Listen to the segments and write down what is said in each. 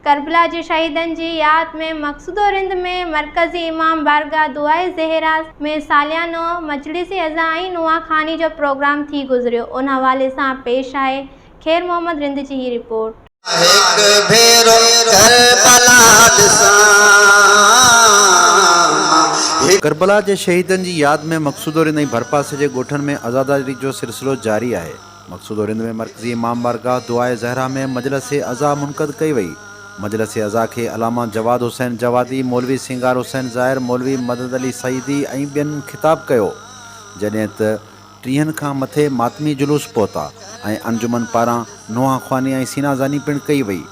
ڪربلا جي شهيدن جي ياد ۾ مقصوده رند ۾ مرڪزي امام بارگاهه دعاء زهراء ۾ ساليانو مجلس عزا ۽ نواخواني جو پروگرام ٿي گذريو ان حوالي سان پيش آهي خير محمد رند جي هي رپورٽ. هڪ ڀيرو ڪربلا ڏسان. ڪربلا جي شهيدن جي ياد ۾ مقصوده رند ۽ ڀرپاسي جي ڳوٺن ۾ عزاداري جو سلسلو جاري آهي. مقصوده رند ۾ مرڪزي امام بارگاهه دعاء زهره ۾ مجلس عزا منعقد ڪئي وئي. مجلس عزا کي علامه جواد حسين جوادي، مولوي سينگار حسين زاهر، مولوي مدد علي سعيدي ۽ ٻين خطاب ڪيو. جڏهن ته. ٽيهن کان مٿي ماتمي جلوس پهتا ۽ انجمن پاران نونهان خواني ۽ سينا زاني پڻ ڪئي وئي.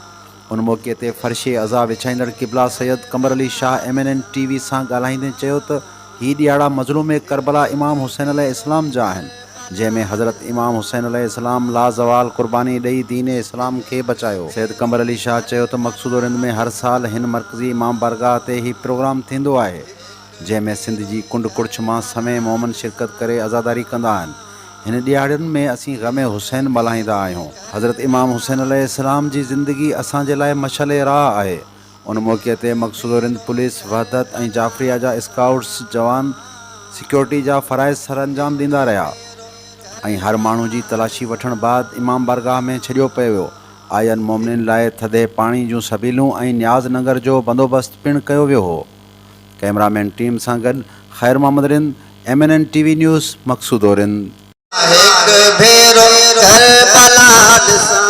ان موقعي تي فرشي عزا وڇائيندڙ قبلا Syed Qamar Ali Shah M N N T V سان ڳالهائيندي چيو ته هي ڏيهاڙا مظلوم ڪربلا امام حسين عليه السلام جا آهن جنهن ۾ حضرت امام حسين عليه السلام لازوال قرباني ڏئي دين اسلام کي بچايو. سيد قمر علي شاهه چيو ته مقصود و رند ۾ هر سال هن مرڪزي امام بارگاهه تي هي پروگرام ٿيندو آهي. جنهن ۾ سنڌ جي ڪنڊ ڪڙڇ مان سوين مومن شرڪت ڪري عزاداري ڪندا آهن. هن ڏيهاڙين ۾ اسين غم حسين ملهائيندا آهيون. حضرت امام حسين عليه السلام جي زندگي اسان جي لاء مشعل راهه آهي. ان موقعي تي مقصوده رند پوليس، وحدت ۽ جعفريه جا اسڪائوٽس جوان سيڪيورٽي جا فرائض سرانجام ڏيندا رهيا ۽ هر ماڻهو جي تلاشي وٺڻ بعد امام بارگاهه ۾ ڇڏيو پيو ويو. آئين مومنين لاء ٿڌي پاڻي جون سبيلون ۽ نياز ننگر جو بندوبست پڻ ڪيو ويو هو. ڪئميرا مين ٽيم سان گڏ Khair Muhammad Rind, M N N T V news, Maqsoodo Rind. هڪ ڀيرو ڪربلا ڏسان.